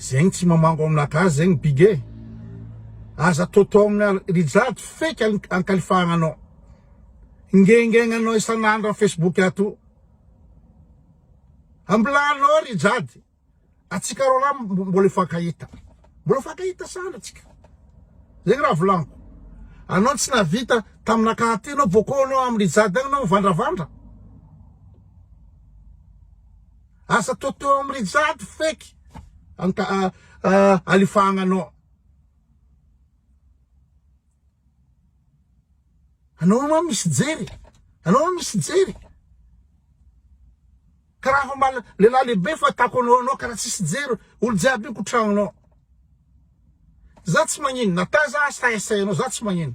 Zegny tsy mamango amina gasy zegny big e! Aza ataotao amina Rijade fake ankalifahagna anao! Ingaingaigna anao isan'andro am Facebook ato! Ambilanao Rijade! Atsika roalahy mbola hifankahita! Mbola hifankahita sahala atsika! Zegny raha volagniko! Anao tsy nahavita taminakahy aty anao bôkô anao am Rijade agny anao mivandravandra! Asa toa teo am Rijade feky alifahagna anao. Anao io ma misy jery e. Anao io misy jery. Karaha fa mba lehilahy lehibe fahitako anao anao karaha tsisy jery olo jiaby io ko tragnonao. Za tsy magnino na taiza aza sahisahy anao za tsy magnino.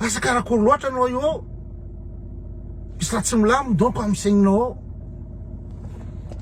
Asa karakory loatra anao io ao? Misy raha tsy milamina donc amin'ny saigninao ao.